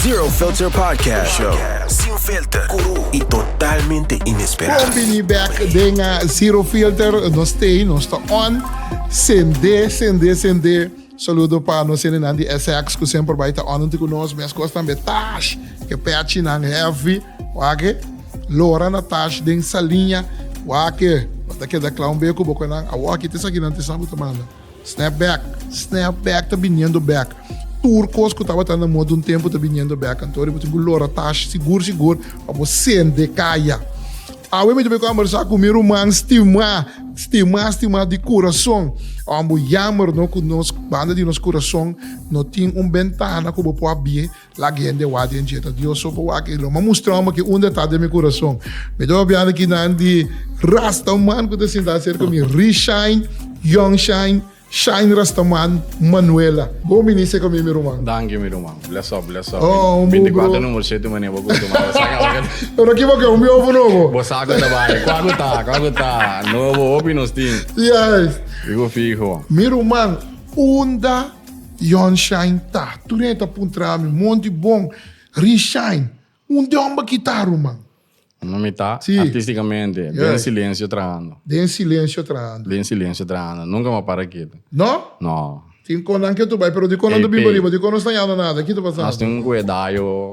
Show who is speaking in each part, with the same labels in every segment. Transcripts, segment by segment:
Speaker 1: Zero Filter Podcast Show. Sin filter, cru y totalmente inesperado. Bon bini back
Speaker 2: den uh, Zero Filter. No stay, no sta on. Sende, sende, sende. Saludo pa nos enenan di SX ku semper bai ta on ku nos. Mes kos tambe Tash, ke pechi nan heavy. Wake, Lora na Tash den Saliña. Wake, wata keda klaun beku boko nan. Awaki, te sakinan te sabu te manda. Snap back, snap back ta biniendo back. Tur cos cu tabata na moda un tempo ta biniendo back. Anto bo tin cu lora tashi sigur sigur pa bo sende caya. Awe mi ta bay conversa cu mi ruman stima, stima, stima di curason. Awan bo yamer no cu nos banda di nos curason no tin un bentana cu bo por a bie Lak hende wak den djeta Dios so pa wak e lo ma mustrau ma ke unda ta den mi kurason. Mi ta papiando kinan di rastaman ku ta sintá serka mi, Ri Shine, Young Shine, Shine Rastaman, Manuela. Bo minis serka mi mi ruman. Danki mi ruman. Bless
Speaker 3: up, bless up. Oh, un bu bro. 24
Speaker 2: number siete mane bo
Speaker 3: kutu mane. Pero aki bo ke
Speaker 2: un biofu nobo. Bo sa ku ta bai.
Speaker 3: Kua ku ta, kua ku ta. Nobo hopi nos tin. Yes. Figu
Speaker 2: figu.
Speaker 3: Mi ruman,
Speaker 2: unda. Yon Shine ta. Tur'é ta puntra mi, Monty bon, Ri Shine, un dòmba ki ta ruman? No mi ta,
Speaker 3: artísticamente,
Speaker 2: den
Speaker 3: silencio
Speaker 2: trahando.
Speaker 3: Den silencio
Speaker 2: trahando. Den silencio trahando. Nunca
Speaker 3: m'a para ketu. No? No.
Speaker 2: Tin
Speaker 3: kon nan ketu bai,
Speaker 2: pero dikon nan ta bin pa riba, dikon nos ta yando nada, ki ta pasando? Nos tin un kuedayo.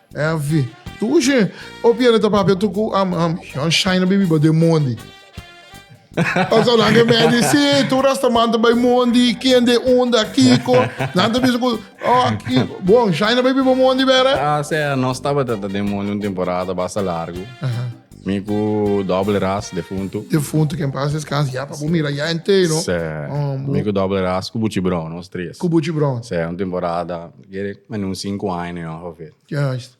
Speaker 2: NV, Tur oshé o pierde ta papia tur ku am am yon shaina be biba de mondi. Asa nan ke me di si tur asta man ta bai mondi ken de unda kiko nan ta bisa ku oh ki bon shaina be biba mondi bere. Ah, se no staba ta
Speaker 3: de mondi un temporada basta largo. Aha. Mi ku doble ras defunto. Defunto ken pas
Speaker 2: descansa ya pa bo mira ya entero. Se. Oh, mi ku
Speaker 3: doble ras ku buchi bron nos tres. Ku buchi bron. Se un
Speaker 2: temporada
Speaker 3: Quiere en un cinco aña no a ver. Juist.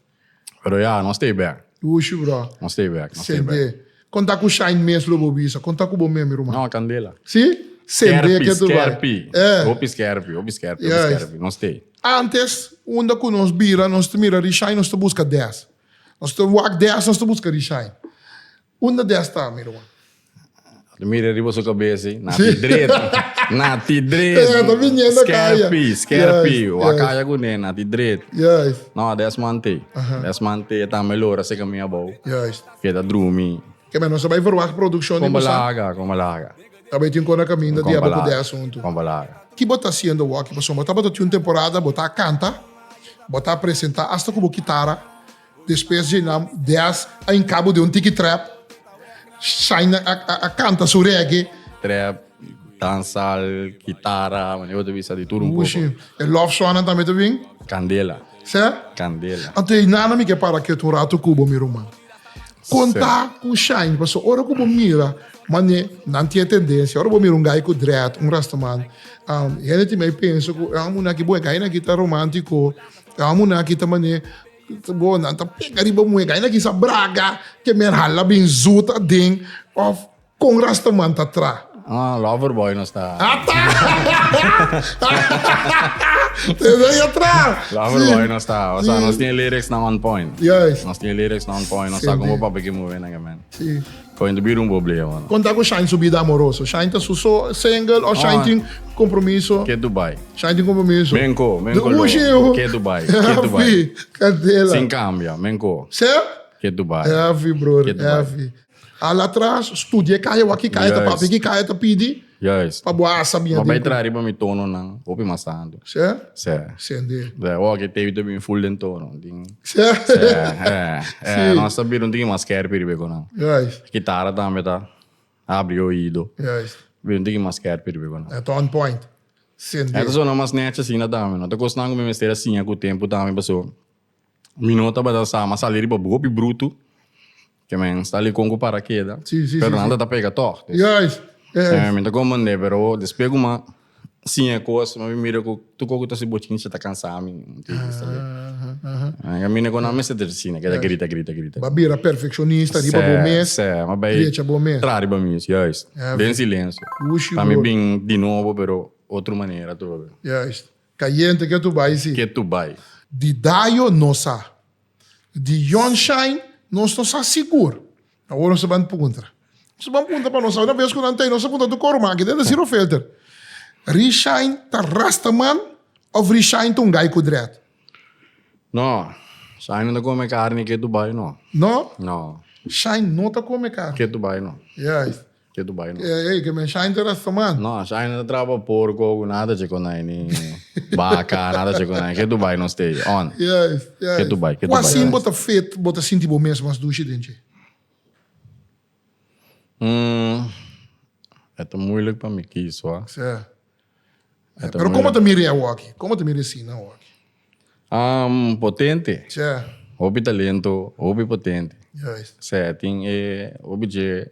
Speaker 2: Pero ya,
Speaker 3: nos stay back. Ushi bro. Nos
Speaker 2: stay back, nos stay
Speaker 3: back. CD. Con
Speaker 2: ta cu Shine mes lo bo bisa? Con ta cu bo meme ruman? No, candela. Si? CD
Speaker 3: ke tu bai.
Speaker 2: Skerpi, skerpi. Hopi skerpi, hopi
Speaker 3: skerpi, hopi skerpi. Juist. Nos stay. Antes, unda
Speaker 2: cu nos bira, nos ta mira Rishine, nos ta busca des. Nos ta wak des, nos ta busca Rishine. Unda di a sta, mi ruman? Lo mira
Speaker 3: riba su kabes si. Na ti dret. Na ti dret. Ta biniendo
Speaker 2: kaya. Skerpi, skerpi. Juist, Wa
Speaker 3: juist. kaya kuné, na ti dret. Juist. No, des
Speaker 2: mante.
Speaker 3: Aha. Des mante, e tambe lo ora se kaminda abou. Juist. Keda drumi. Ke men nos a bai
Speaker 2: verwagt produkshon di Kon Busan. balaga, kon balaga.
Speaker 3: Ta bai tin kona
Speaker 2: kaminda di Kon abo ku de balaga, asuntu. kon balaga. Ki bo
Speaker 3: ta hasiendo wak?
Speaker 2: Pasobra bo tabata tin un temporada bo ta kanta, bo ta presentá asta ku bo kitara. Despues Djinam Diaz a hincabo den un tiki trap, Shine a canta su reggae. Trap,
Speaker 3: dancehall, guitarra, mane bo ta bisa di tur un poco. Ushi, e love songnan
Speaker 2: tambe ta bin. Candela.
Speaker 3: Ser? Candela.
Speaker 2: Anto e
Speaker 3: nana mi ke para
Speaker 2: kiet un rato cu bo mi ruman. Conta cu Shine, paso ora cu bo mira mane nan tin e tendencia, ora bo mira un guy cu dread, un rastaman, hende tin mey pensa cu, ah, muna aki bo e guy nan aki ta romantico. E homi nan a kita manera bo nan ta pega riba mueca. Aina kisa braga ke mer hala bin zoet aden of con rastaman ta tra. Ah, Loverboy nos
Speaker 3: ta. Ah, ta!
Speaker 2: Tesa ya tra. Loverboy nos ta.
Speaker 3: O sea, nos tin e lyrics nan on point. Juist. Nos tin e lyrics
Speaker 2: nan on point.
Speaker 3: Nos sa como papi ki move nan, man. Sí. Con ta
Speaker 2: bira un boblema.
Speaker 3: Con ta cu Shine su bida
Speaker 2: amoroso? Shine ta su so, single, o Shine tin compromiso? Ke tu bay? Shine
Speaker 3: tin compromiso. Men
Speaker 2: co, men co lo. Ushi
Speaker 3: u. Ke tu bay? Ke tu bay? Heavy.
Speaker 2: Candela. Sin cambia, men
Speaker 3: co. Ser? Ke tu
Speaker 2: bay? Heavy,
Speaker 3: brother.
Speaker 2: Heavy. Al atras, studia e caya wak, ki caya ta papia, ki caya ta pidi. Juist. Pa bo a
Speaker 3: sabia Bo den bai
Speaker 2: ku. traha riba mi
Speaker 3: tononan hopi mas antu. Sè? Sè.
Speaker 2: Sè
Speaker 3: de. Sè, wou aki
Speaker 2: tevi ta bin
Speaker 3: full den tono. Tin, Sè? sè,
Speaker 2: eh,
Speaker 3: eh, Si. nos ta bira un tiki mas skerpi riba e konan. Juist. Kitara
Speaker 2: tambe ta
Speaker 3: abri e oido. Juist. Bira un tiki
Speaker 2: mas skerpi
Speaker 3: riba e konan. E ta on point.
Speaker 2: Sè E ta de. sona mas nechi
Speaker 3: asina tambe. No ta kos nan ku mi mester a siña ku tempu tambe pasobra mi no tabata sa, mi a sali riba hopi brutu. Ke men sta li kon ku parakeda. Sí, sí, Pero sí, nan sí. ta ta pega tòg. Dus, Juist, eh,
Speaker 2: juist.
Speaker 3: mi ta kon band'é, pero despues ku man siña e kos, man mi mira ku tur kos ku ta hasi bochinchi ta kansá mi. Entiendes? Tal ve. Aha, aha. Nan kaminda ku nan mester ta siña, ke ta grita, grita, grita. Ba bira perfekshonista
Speaker 2: riba bo mes, Sè, sè. M'a bai trecha bo
Speaker 3: mes. Tra riba
Speaker 2: mi mes, juist.
Speaker 3: Heavy. Den silensio. Wushi, Pa mi brother.
Speaker 2: bin di
Speaker 3: nobo,
Speaker 2: pero
Speaker 3: otro manera tur. Juist.
Speaker 2: Cayente ke tu bay si. Ke tu bay.
Speaker 3: Di Dayo
Speaker 2: no sa. Di John Shine nos no sa sigur. Awor nos ta ban puntra. Nos ta ban puntra pa nos sa. Una bes cu nan ta ey nos ta puntra tu coro maki den ta zero filter. Ree Shine ta rasta man of Ree Shine ta un guy cu dread? No.
Speaker 3: Shine no ta come carne ke tu bay no. No? No. Shine no ta
Speaker 2: come carne. Ke tu bay no.
Speaker 3: Juist. Ke tu
Speaker 2: bai
Speaker 3: lo. Ey, ke men Shaina ta rasta
Speaker 2: man. No, Shaina ta traba
Speaker 3: porco ogu, nada ta che con ai, ni baca, nada ta che con ai. Ke tu bai nos tei, on. Juist, juist. Ke tu
Speaker 2: bai, ke tu bai. Cu
Speaker 3: asin bo ta fit, bo
Speaker 2: ta sinti bo mes mas dushi den dje? Hm,
Speaker 3: e ta moeilijk pa mi kies hoor. Sa. Pero como ta mire
Speaker 2: awoki? Como ta mire Sina awoki? Hm, potente.
Speaker 3: Sa. Hopi
Speaker 2: talento,
Speaker 3: hopi potente. Juist. Sa, e
Speaker 2: tin e,
Speaker 3: hopi dje.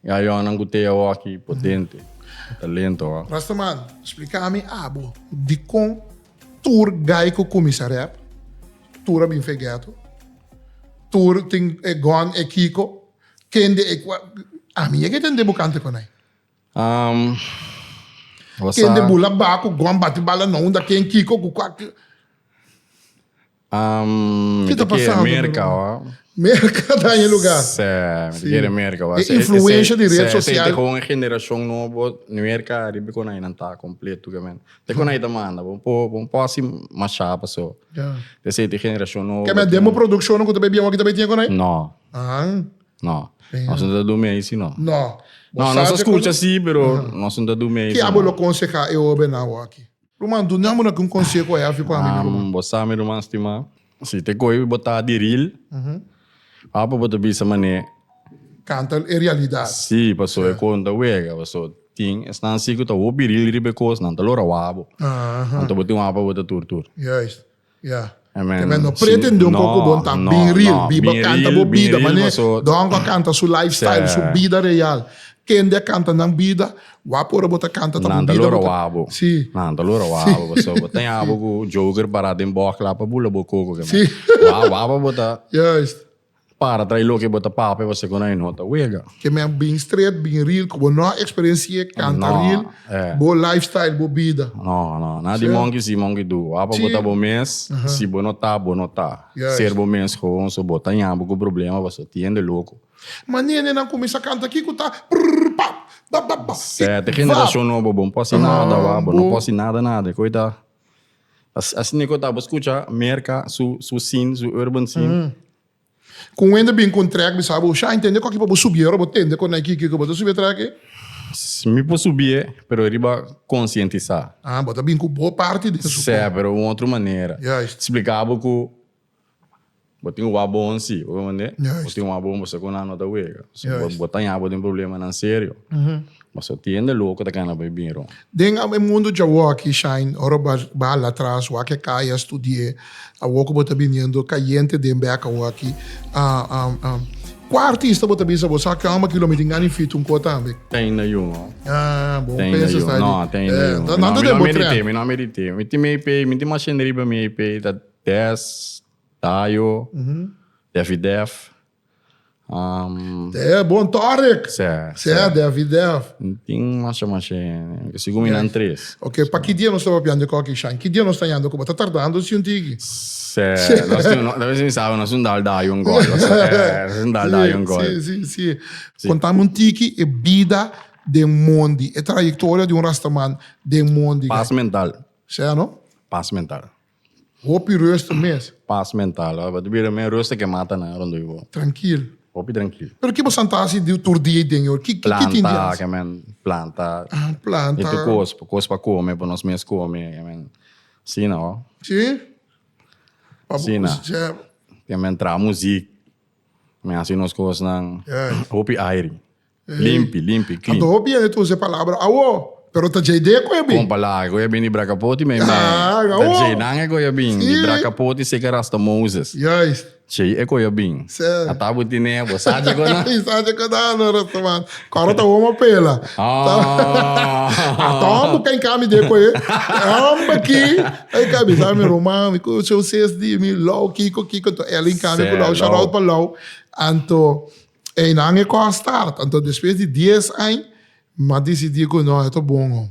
Speaker 3: Ya Yohanan ku Tea wòki potente, e ta lento wak. Rastaman, splika
Speaker 2: mi abo dikon tur gai ku kuminsá rèp, tur a bin fegeto, tur tin e gòn, e kiko, kende e kua, ami yega etendé bo kante konai. Um,
Speaker 3: Kende bula ba ku
Speaker 2: gòn bati bala na unda, ken, kiko, ku kua. Ki ta pasando na Merka luga? Merka
Speaker 3: ta e
Speaker 2: luga. Sí, mi ta kere
Speaker 3: Merka. E influensha di
Speaker 2: red
Speaker 3: sosial. Sí,
Speaker 2: esei ta kon e generashon
Speaker 3: nobo, Merka ariba kon ainan ta kompletukamenti. Te kon ai ta manda bo un pòsi mashá pasó. Esei ta e generashon nobo. Keme den bo produkshonnan ku
Speaker 2: ta bai bian wak i ta bai tin e kon ai? No. No.
Speaker 3: Nos no ta durmi ai si no. No. No, nos
Speaker 2: a skucha
Speaker 3: si, pero nos no ta durmi ai si no. Ke abo lo konsehá e
Speaker 2: obe nan wak i? Ruman, dun dja muna cu un conseho a yafi pa mi, mi ruman? Bo sa, mi ruman stimá,
Speaker 3: si ta coe bo ta di ril, apa bo ta bisa man'e. Canta
Speaker 2: e realidad. Sí, paso e cos
Speaker 3: no ta wega, paso tin esnan sí cu ta hopi ril riba e cos, nan ta lo rawa bo. Anto bo tin un apa bo ta tur tur. Juist.
Speaker 2: Ya. Amen. Amen. No
Speaker 3: pretende un
Speaker 2: poco bon ta bin real. Biba canta bo bida. Mane Don go canta su lifestyle, su bida real. Kende a canta nan bida, wa por bo ta canta ta bo bida. Si.
Speaker 3: Nan ta lura
Speaker 2: wa bo.
Speaker 3: Paso bo ta yabo cu joker para den bok la pa bula bo coco. Wa
Speaker 2: pa bo ta.
Speaker 3: Juist.
Speaker 2: Para trae
Speaker 3: loke bo ta papia pa se konai no ta wega. Ke men bin stret,
Speaker 2: bin ril ku bo no a eksperensié kanta ril bo lifestyle, bo bida. No, no. Na di
Speaker 3: monki si, monki du. Wak pa bo ta bo mes, si bo no ta, bo no ta. Ser bo mes
Speaker 2: gewoon,
Speaker 3: so bo ta ña bo ku problema paso tiende loko. Ma nenenan
Speaker 2: kuminsá kanta kiku ta prrrr pap, bap bap bap. Sete
Speaker 3: generashon nobo, bo no por hasi nada wak, bo no por hasi nada nada. Koe ta. Asina cu ta bo scucha Merca su scene, su urban scene. Cu
Speaker 2: wende bin cu un track bisa bo, Shine tende cu aki pa bo subi'e ora bo tende cu na e kiki cu bo ta subi e track ei? Mi por
Speaker 3: subi'e, pero riba conscientisa. Ah, bo ta bin cu bo
Speaker 2: parti den su cu. Sea, pero un otro
Speaker 3: manera. Juist. Splica bo
Speaker 2: cu.
Speaker 3: Bo tin wak bon si, bo ta mende? Bo tin wak bon, bo sa
Speaker 2: ku nan
Speaker 3: no ta wega. So, bo ta haña bo
Speaker 2: den problemanan
Speaker 3: serio. Mas bo tiende loko ta kana pa e bin rònt. Den e mundu
Speaker 2: djawowo aki, Shine, ora bo a hala atras, wak e kai, a studié, awor ku bo ta biniendo kayente den bèk awor aki, kua artista bo ta bisa bo sa ku amba kilo mi tin gana e feat un kor tambe? Ten na yu no. Bo un
Speaker 3: pensa
Speaker 2: esaki. No, ten
Speaker 3: na
Speaker 2: yu
Speaker 3: no. Mi no a medit'é,
Speaker 2: mi no a medit'é. Mi tin
Speaker 3: mi EP, mi tin mashende riba mi EP. Des, Dayo, Deffy Def.
Speaker 2: Te bon tòrek. Sè, sè. Sè, Deffy
Speaker 3: Def.
Speaker 2: Nan tin
Speaker 3: masha masha hende. Sigun mi nan tres. Ok, pa ki dia nos ta
Speaker 2: papiando e kòki, Shan? Ki dia nos ta yendo ku bo ta tardando si un tiki? Sè,
Speaker 3: nos tin un, mi sabi nos tin un dal Dayo un gòl. Nos tin un dal Dayo un gòl. Si, si,
Speaker 2: si. Kontáme un tiki e bida den mondi, e trayektoria di un rastaman den mondi. Pas mental.
Speaker 3: Sè, no?
Speaker 2: Pas mental.
Speaker 3: Hopi
Speaker 2: ruster mes. Pas mental. Bo
Speaker 3: ta bira men ruster ke mata nan rond'e bo. Trankil. Hopi
Speaker 2: trankil. Pero
Speaker 3: ke bo santa hasi di
Speaker 2: tur dia i den e or? Ki tin di hasi? Planta, ke men.
Speaker 3: Planta. Ah, planta. I tur
Speaker 2: kos. Kos
Speaker 3: pa kome, pa nos mes kome, ke men. Asina bo. Si. Pa bo kusi chèp. Ke men traha muzik. Men hasi nos kosnan.
Speaker 2: Hopi
Speaker 3: airi. Ey.
Speaker 2: Limpi,
Speaker 3: limpi,
Speaker 2: clean.
Speaker 3: Anto hopi
Speaker 2: hende ta usa
Speaker 3: e
Speaker 2: palabra
Speaker 3: awo,
Speaker 2: pero ta djei deko e bin. Compa laga cu e bin di
Speaker 3: Bracapoti me me. Laag, awo. Ta djei
Speaker 2: nan e cu e
Speaker 3: bin. Si. Di Bracapoti
Speaker 2: seca
Speaker 3: rasta Moses. Juist. Djei
Speaker 2: e cu e bin.
Speaker 3: Sè. Ata bo tine,
Speaker 2: bo sa
Speaker 3: djeco nan. Ey sa djeco nan no
Speaker 2: rastaman. Coro ta homo pela. Aah. Ata hom bo cay cami deko e hom aki. Ey ca bisa mi Roman, mi cu show ses di mi Lou, Kiko, Kiko. Anto Elin cami cu Lou, shout out pa Lou. Anto Einan e kos start. Anto despues di dies añ m'a decidí ku no, e ta bon ho.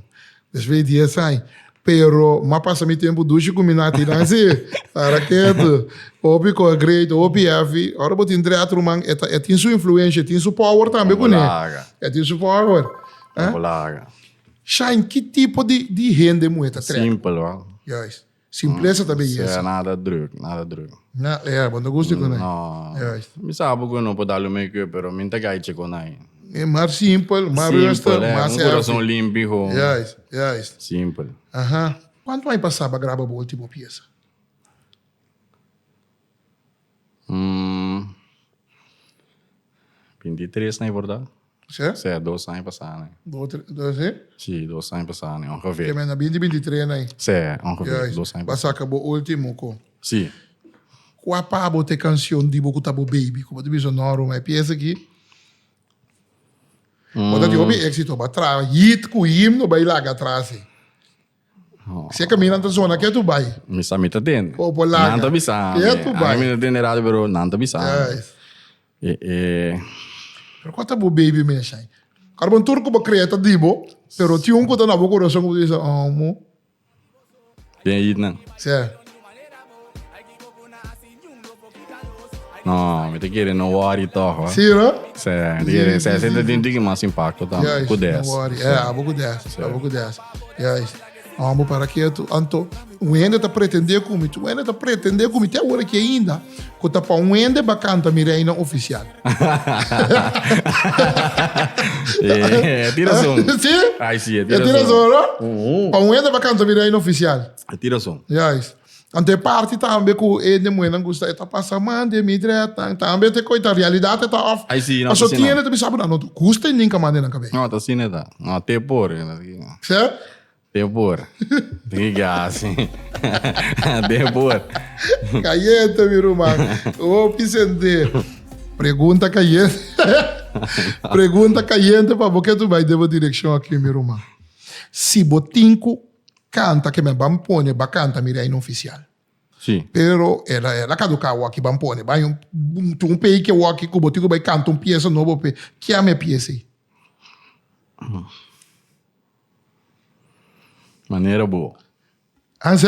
Speaker 2: Despues di dies añ. Pero m'a pasa mi tempu dushi ku mi natinan si. Para ketu. Hopi kos great, hopi hefi. Ora bo tin dret ruman, e ta, e tin su influensha, e tin su power tambe kuné. E tin su power.
Speaker 3: Shine,
Speaker 2: ki tipo di hende muhé ta trèk? Simpel, hoor.
Speaker 3: Juist. Simplesa
Speaker 2: ta beyesa. Sea, nada druk, nada
Speaker 3: druk. Na, ya, bo no gusti
Speaker 2: kunai. No. Juist. Mi
Speaker 3: sa bo ku
Speaker 2: no por
Speaker 3: dal un make-up, pero mi no ta gaichi kunai. Mi mar simpel,
Speaker 2: mar rustig, Simpel, mas un healthy. kurason limpi hon. Juist,
Speaker 3: juist.
Speaker 2: Simpel. Aha.
Speaker 3: Kuantu
Speaker 2: ai pasá pa graba bo último piesa?
Speaker 3: binti i tres na i por ta? Sè? Sè, dos
Speaker 2: aña pasá
Speaker 3: na i. Dos, tres, dos e?
Speaker 2: Sí, dos aña pasá
Speaker 3: na i, ongevè. Kende na binti,
Speaker 2: binti
Speaker 3: tres
Speaker 2: na i. Sè, ongevè,
Speaker 3: dos aña pasá. Basta ka bo
Speaker 2: último
Speaker 3: ku.
Speaker 2: Sí.
Speaker 3: Kua
Speaker 2: pa bo ta e kanshon di bo ku ta bo beibi? Ku bo ta bisa, No, Ruma, e piesa aki. Bo ta tin hopi éksito, bo a traha hit ku himno bai laga atrás e. Si e caminda ta zona kiet u bai. Mi sa mi ta den.
Speaker 3: O por laga. Nan ta bisa
Speaker 2: mi. Kiet u
Speaker 3: bai. Ami mi ta den
Speaker 2: den radio pero
Speaker 3: nan ta bisa mi.
Speaker 2: E e. Pero cua ta bo baby
Speaker 3: mes
Speaker 2: ai? Ora bon tur cu bo crea ta di bo, pero tin un cu ta na bo corazon cu bo ta bisa amo.
Speaker 3: Den yit nan. Seh. No, mi te kere no worry toch hoor. Sí, no? Sí,
Speaker 2: mi te kere, sí,
Speaker 3: sí, te tiki mas impacto también. Juist, Ku des. no worry. Sí. Eh,
Speaker 2: abo ku
Speaker 3: des,
Speaker 2: Sí. abo ku des. Juist. No, amo para ketu. Anto, un hende ta pretende ku mi, un hende ta pretende ku mi te awor aki ainda, ku ta pa un hende ba kanta mi reina oficial.
Speaker 3: Eh, ti razón. Sí? Ay, sí, ti
Speaker 2: Ya ti
Speaker 3: razón. razón,
Speaker 2: no?
Speaker 3: Pa un hende
Speaker 2: ba kanta mi reina oficial. Ti razón. Juist.
Speaker 3: Anto e
Speaker 2: parti tambe ku e hende muhernan gusta e ta pasa man den mi drètnan tambe te koita realidat e ta òf Ai si, no ta paso si no. tiene ta
Speaker 3: bisa bo nan no
Speaker 2: ta gusta e ninka man den nan kabei. No ta si ne ta. No
Speaker 3: te por. Sè?
Speaker 2: Te por.
Speaker 3: Di ke hasi. Te por. Kayente
Speaker 2: mi ruman. Hopi sent'é. Pregunta kayente. Pregunta kayente pa bo ke tu bai den bo direkshon aki mi ruman. Si bo tin ku canta que me ban pone ba canta mi reino oficial. Sí. Pero
Speaker 3: ela
Speaker 2: ela caduca awor aquí ban pone. Ba un tu un pei que awor aquí cubo tico bay canta un pieza nobo pe kia me pieza.
Speaker 3: Manera bo. Anse?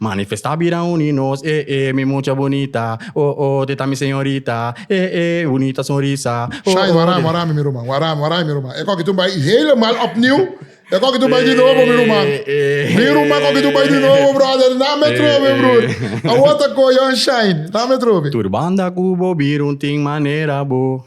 Speaker 3: Manifesta bira uni nos e e Mi mucha bunita o o Te ta mi señorita e e Bunita sonrisa o o Shine warami warami
Speaker 2: mi ruman Warami warami mi ruman E koki tu bai helemaal opnieuw E koki tu bai di nobo mi ruman Mi ruman koki tu bai di nobo brother Na me trobe broer Awor ta koyon shine Na me trobe. Tur banda ku bo
Speaker 3: bir un tin manera bo.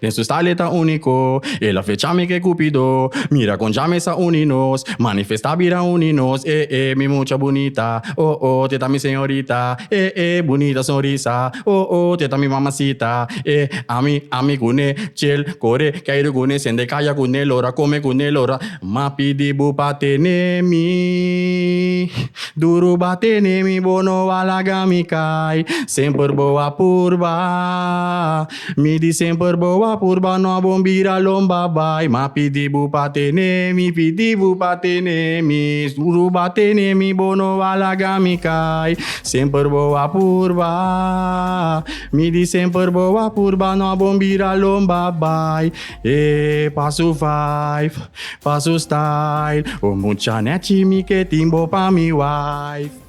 Speaker 3: Den su style e ta úniko El a flecha mi ku e kupido Mira kon dja mi sa uni nos Manifestá bira uni nos Eh eh mi mucha bunita Oh oh teta mi señorita Eh eh bunita sonrisa Oh oh teta mi mamasita Eh ami ami kuné Ch'el kore k'ai ru kuné Sende kaya kuné Lo ra kome kuné Lo ra m'a pidi bu pa tene mi Duru b'a tene mi Bo no a laga mi kai Semper bo a purba. Mi di semper bo a purba no a bon bira lomba bai ma pidi bu pa tene mi pidi bu pa tene mi suru ba tene mi bo no a laga mi kai semper bo a purba mi di semper bo a purba no a bon bira lomba bai e pa su vibe pa su style o mucha nechi mi ke tin bo pa mi wife.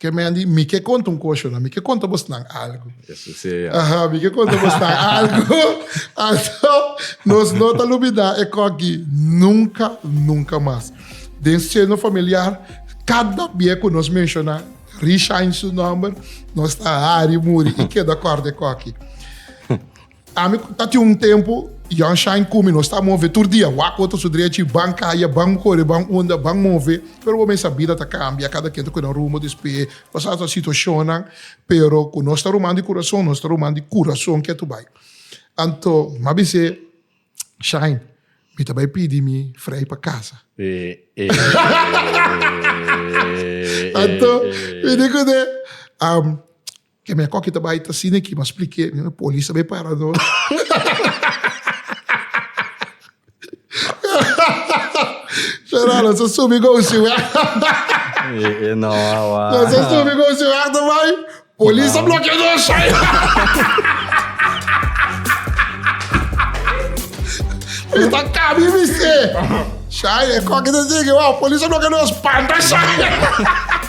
Speaker 2: Ke men di, mi ke konta un kosho nan, mi ke konta bosnan algu. Eso si e ya. Aha,
Speaker 3: mi ke konta
Speaker 2: bosnan algu. Also, nos no ta lubidá e kòk di nunka, nunka mas. Den seno familiar, kada bia ku nos menshoná Rishine su nòmber, nos ta hari muri i keda kòrda e kòki. Ami cu ta tin un tempo, Jan Shine cu mi nos ta move tur dia, waco ta su drecha y ban caya, ban core, ban unda, ban move. Pero bo mesa bida ta cambia, cada quien ta cu nan rumbo despe pasado nan situacionnan, pero cu nos ta ruman di curason, nos ta ruman di curason kia tu bay. Anto mi a bis'e, Shine, mi ta bay pidi mi Frei pa casa. Anto mi di cus'e, Ke mea koki ta bai ta sini aki, mas plike mi no polis ta bai para no. Fernando, so subi gosi we. E,
Speaker 3: e no, awa. No,
Speaker 2: so subi gosi we ta bai. Polis ta blokea no shai. Mi ta kabi mi se. Shai, e koki ta sini ki wa, polis ta blokea no spanta shai.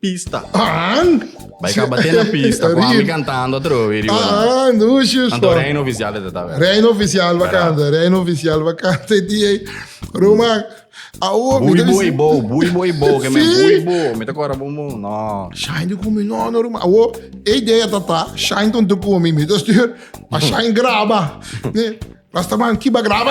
Speaker 3: Pista. Aan! Bai kaba te na pista ku ami kantando atrobe di una. Aan, Lucius.
Speaker 2: Anto Reino Oficial e ta ta.
Speaker 3: Reino Oficial ba
Speaker 2: kanta, Reino Oficial ba kanta e dia ei. Ruman, awo mi ta
Speaker 3: bisa. Bui boi bo, bui boi bo, ke men bui bo, mi ta kora bo mon, no. Shine ta komi, no,
Speaker 2: no ruman, awo e idea ta ta, Shine ta un tur komi, mi ta stuur pa Shine graba. Rastaman, ki ba graba?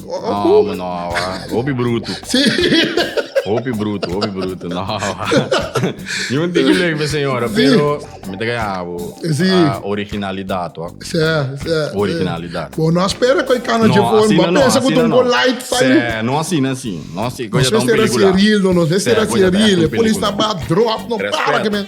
Speaker 3: No, man, no, wa. Hopi brutu. Sí.
Speaker 2: Hopi
Speaker 3: brutu, hopi brutu. No, wa. Ni un tiki leuk pe señora, Sí. pero mi te kaya abo. Sí. ah, originalidad, wa. Sí, sí.
Speaker 2: Originalidad. Bo
Speaker 3: no espera koi
Speaker 2: kana No, jepon. así Bo no, no, pensa así ku no, tongo no. light sai. Sí, no así, no así. No así,
Speaker 3: Nos koya ta un vester así película. real,
Speaker 2: no, nos vester Sí, así koya ta real. un Polis película. taba drop, no Respect. para que men.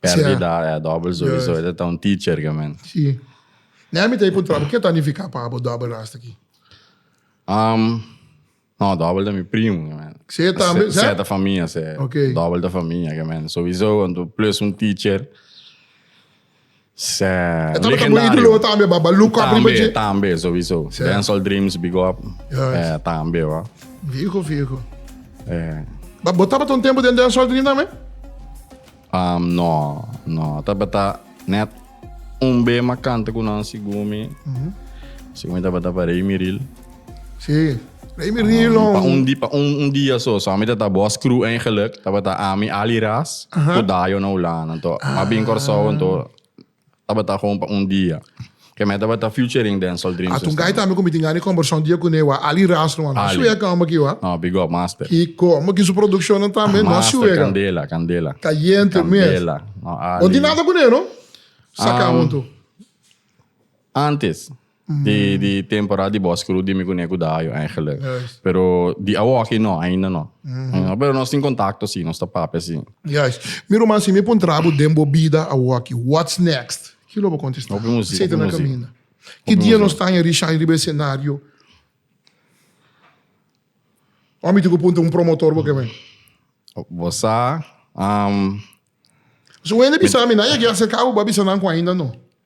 Speaker 3: Perdi da, eh, dobbel su iso, esa ta un teacher ke men. Si.
Speaker 2: Nea mi ta e kontrá, ke ta nifiká pa abo dobbel rasta aki? Um,
Speaker 3: no,
Speaker 2: dobbel
Speaker 3: ta mi
Speaker 2: primo ke
Speaker 3: men. Sey
Speaker 2: tambe, sey? Sey ta famia, sey. Ok.
Speaker 3: Dobbel ta famia
Speaker 2: ke men.
Speaker 3: Souiso, plus un teacher. Sè,
Speaker 2: E tambe ta bo legendario. idolo tambe ba ba look up riba Tambe, dje. tambe, sowiso.
Speaker 3: Sè. Dancehall Dreams, big up. Yes. Eh, tambe, wa. Fijo fijo. Eh,
Speaker 2: Ba bo tabata un tempo den Dancehall Dream tambe? am, no,
Speaker 3: no. Tabata net un bema kante ku nan, Sigumi. Sigumi tabata pa Rey Miril. Sí.
Speaker 2: Rei mi rie long. Pa un, pa un, un
Speaker 3: dia so, so ami ta ta bos crew eigenlijk. Tabata ami, Ali Ras, ku Dayo na Hulanda to. Ma bin Kòrsou anto tabata gewoon pa un dia. Ke me tabata featuring Densol Dreams. Ato un guy tambe ku mi tin gana e
Speaker 2: kòmbersá un dia kuné wak Ali Ras no a no a shueka omba ki wak. No, big up master.
Speaker 3: Kiko, omba ki su
Speaker 2: produkshonnan tambe no a shueka. Master kandela, kandela.
Speaker 3: Kayente
Speaker 2: mes. Kandela. No, Ali. Bo tin nada kuné no? Saka huntu. Antes.
Speaker 3: Di, di temporada di bos kru di mi kuné ku Dajo eigenlijk. Juist. Pero di awo aki no, ainda no. Ainda. Pero nos tin kontakto si, nos ta papia si. Juist. Mi ruman,
Speaker 2: si mi puntra bo den bo bida awo aki, what's next? Ki lo bo kontestá? Hopi musika, Aceite hopi na musika. kaminda. Ki Hopi dia nos musika. ta haña Rishai riba e senario? Ò mi tin ku puntra un promotor bo kebé? Bo sa,
Speaker 3: am,
Speaker 2: Su hende bisa mi, nan yagi aserká bo, bo a bisa nan ku ainda no.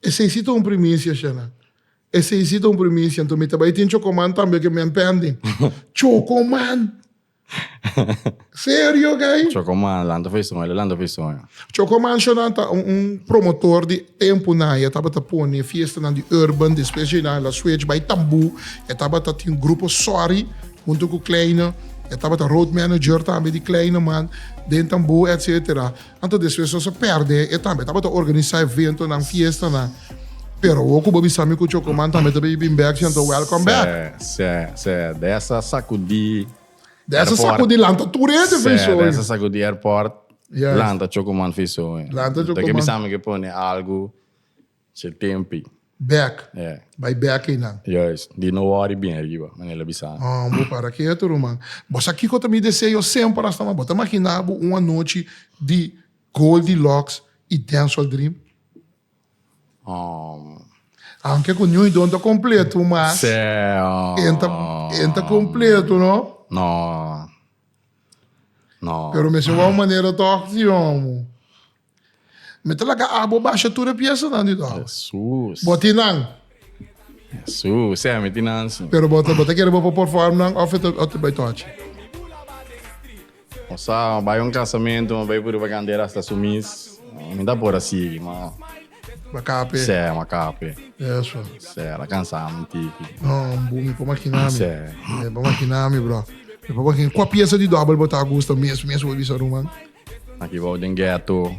Speaker 2: Esei si ta un primisia, Shena. Esei si ta un primisia. Anto mi ta bai tin chocoman tambe oke men pending. Chocoman! Serio guy? Chocoman, lanta foi sonho,
Speaker 3: el lanta foi sonho. Chocoman Shona
Speaker 2: ta un, un promotor di tempo na. Ya tabata pone fiestanan di urban, despues dje na la switch bai tambu. Ya tabata tin grupo Sorry hunto cu Kleine. Ya tabata road manager tambe di Kleine man den tambu, etcetera. Anto despues nos a perde e tambe tabata organisa eventonan, fiestanan. Pero awo ku bo bisa mi ku Chocoman tambe ta bin bin bek si anto welcome back. Sè, sè, sè. Desa
Speaker 3: a sakudí airport. Desa
Speaker 2: sakudí lanta tur hende fris hoy. Sè, desa sakudí airport
Speaker 3: lanta Chocoman fris hoy. Lanta Chocoman. Bo ta ke bisami
Speaker 2: ke pone
Speaker 3: algu. Se tempi. Bek. E.
Speaker 2: Bai bek
Speaker 3: ei nan.
Speaker 2: Juist. Di no wori
Speaker 3: bien riba, Manel a bisa mi. Hon, bo para ketu
Speaker 2: ruman. Bo sa kiko ta mi deseo semper asta mas? Bo ta magina bo un anochi di Goldilocks i Dancehall Dream? Hon. Aunke ku Ñui Don ta kompletu, mas. Sè, hon. E ta, e ta kompletu, no? No.
Speaker 3: No. Pero mester wou manera
Speaker 2: tòg, si, hon. Mi ta laga abo basha tur e piesanan di dor. Jesús. Bo tin nan?
Speaker 3: Jesús, sea, mi tin nan sí. Pero bo ta kere bo
Speaker 2: por perform nan of e ta bay tochi? O
Speaker 3: sa, mi bay un casamento, mi bay puriba canta e rasta su mis. Mi ta por a sigui, ma. Bo a cape?
Speaker 2: Sea, mi a cape.
Speaker 3: Eso.
Speaker 2: Sea, el a cansa
Speaker 3: mi un tiki. No, hombre, mi por
Speaker 2: makina mi. Sea. Mi por makina mi, bro. Mi por makina. Cua piesa di dobel bo ta gusta mes, mes, bo bisa ruman? Aki bo den
Speaker 3: ghetto.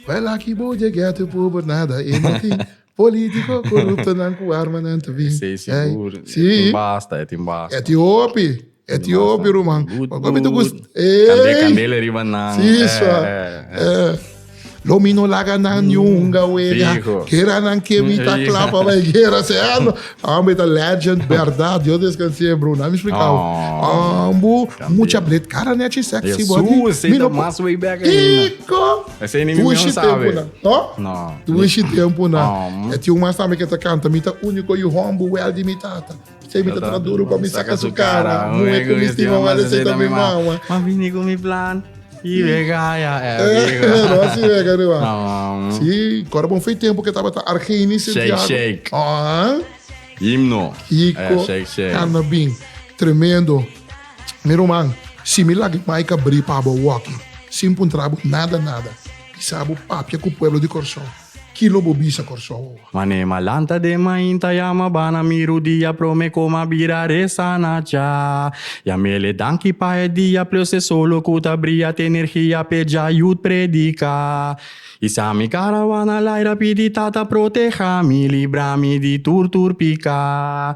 Speaker 3: Well aki
Speaker 2: bo dje ghetto por por nada e no tin politico coruptonan cu armanan to bin Sey sigur e si
Speaker 3: tin basta
Speaker 2: e tin basta
Speaker 3: e tin hopi e tin
Speaker 2: hopi ruman good wan hopi ta good gust candel ey candele
Speaker 3: riba nan si eh sua
Speaker 2: eh eh eh lo mi no laga nan ni un hunga wega fijo guera nan kebita clapa bay guera se ano Ambu e ta legend berdad Dios descans'é Bruno a mi splikau ambu mucha blet cara nechi e sexy body mi no por
Speaker 3: Kiko
Speaker 2: tushi
Speaker 3: tempunan to
Speaker 2: tushi tempunan e tin un mas tambe ke ta canta mi ta unico yu hombu well di mi tata p'esei mi ta tra duru pa mi saca su cara muhe cu mi stima mas esei ta mi mama.
Speaker 3: Y vega ya eh. Rosy
Speaker 2: vega riba. Sí, cora bon fei tempo que tabata Argeni Santiago. Shake shake. Ah.
Speaker 3: Himno. Hico.
Speaker 2: Shake shake. Cana bin. Tremendo. Mi roman, si mi lagi mai cabri pabo walking, sin puntrabo nada nada, isabo papia cu pueblo di Corsou. Kilo bo bisa Kòrsou awa? Mané m'a lanta
Speaker 3: den mainta yama bana miru dia prome kome a bira resa na cha yamele danki pa e dia plose solo ku ta bria te nergia p'e dja yut predika i sa mi karawana laira pidi tata protehami librami di tur tur pika.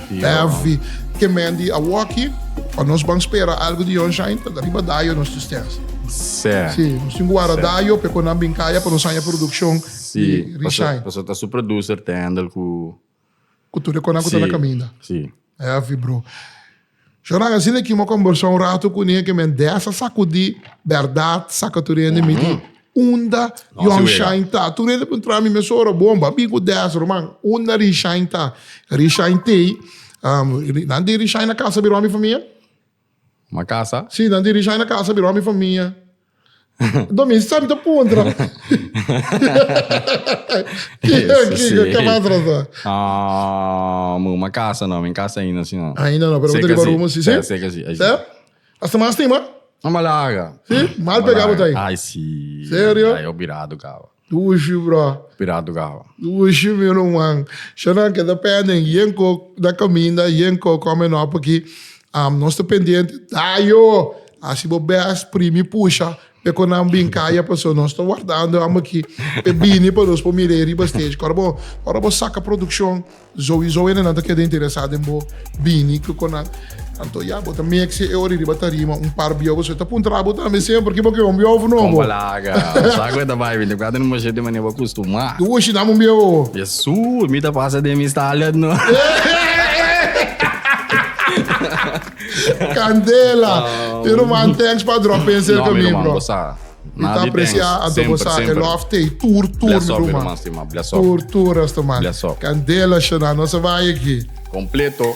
Speaker 2: Heavy. Ke men di awoki, pa nos ban spera algo di Jon Shine, ta riba dayo nos tristesa. Sí. Sí,
Speaker 3: nos tin ku wara
Speaker 2: dayo, p'e ku nan bin kaya pa nos haña produkshon di Reshine.
Speaker 3: Pasobra ta
Speaker 2: su produser
Speaker 3: te handel ku. Ku tur e
Speaker 2: konan ku ta na kaminda. Sí. Heavy,
Speaker 3: bro.
Speaker 2: Shona a asina ki mo kombersá un ratu ku niña ke men desa sakudí bèrdat sakaturia den mi di unda Young Shine ta. Tur hende a puntra mi mes ora bon ba bin ku desa ruman unda Ri Shine ta. Ri Shine t'ei nan di Ri Shine a kasa bira mi famia.
Speaker 3: Nan di Ri Shine a kasa
Speaker 2: bira mi famia. Domi sami ta puntra. Kiko, kiko, ke mantra sa? Ah,
Speaker 3: mi kuma kasa no, mi kasa ainda si no. Ainda no, pero bo ta riba rumo
Speaker 2: si, si? Seka, seka si. Si?
Speaker 3: Asta
Speaker 2: mas stima? Mama laga.
Speaker 3: Si? Mal pega bo
Speaker 2: ta ai? Ai si.
Speaker 3: Serio? Ai, yo birado
Speaker 2: kawa.
Speaker 3: Ushi bro.
Speaker 2: Pira tugaba.
Speaker 3: Ushi mi ruman.
Speaker 2: Shana ke ta penden yen ko na kaminda yen ko kome no apaki am nos ta pendiente dayo hasi bo best primi pusha pe ko nan bin kaya paso nos ta wardando am aki pe bini pa nos por mire riba stage kor bo ora bo saka produccion Zowizo e nenan ta keda interesá den bo bini ku kon nan. Anto ya, bo ta mekse e ori riba tarima un par biaw. Pasobra e ta puntra abo tambe semper ki bo ke un biaw òf no bo. Kon bo laga.
Speaker 3: Bo sa ku e ta bai binti kuater nomas shit di manera bo kustumá. Di ushi dam un biaw owo.
Speaker 2: Jesús, mi ta
Speaker 3: pasa den mi Stalliard no.
Speaker 2: Candela! Mi ruman, thanks pa drop in serka mi bro. No mi ruman, bo sa. Mi ta
Speaker 3: aprecia anto
Speaker 2: bo sa e love te y tur tur mi ruman tur tur
Speaker 3: resto
Speaker 2: man candela shona no se vaya
Speaker 3: aki.
Speaker 2: Completo.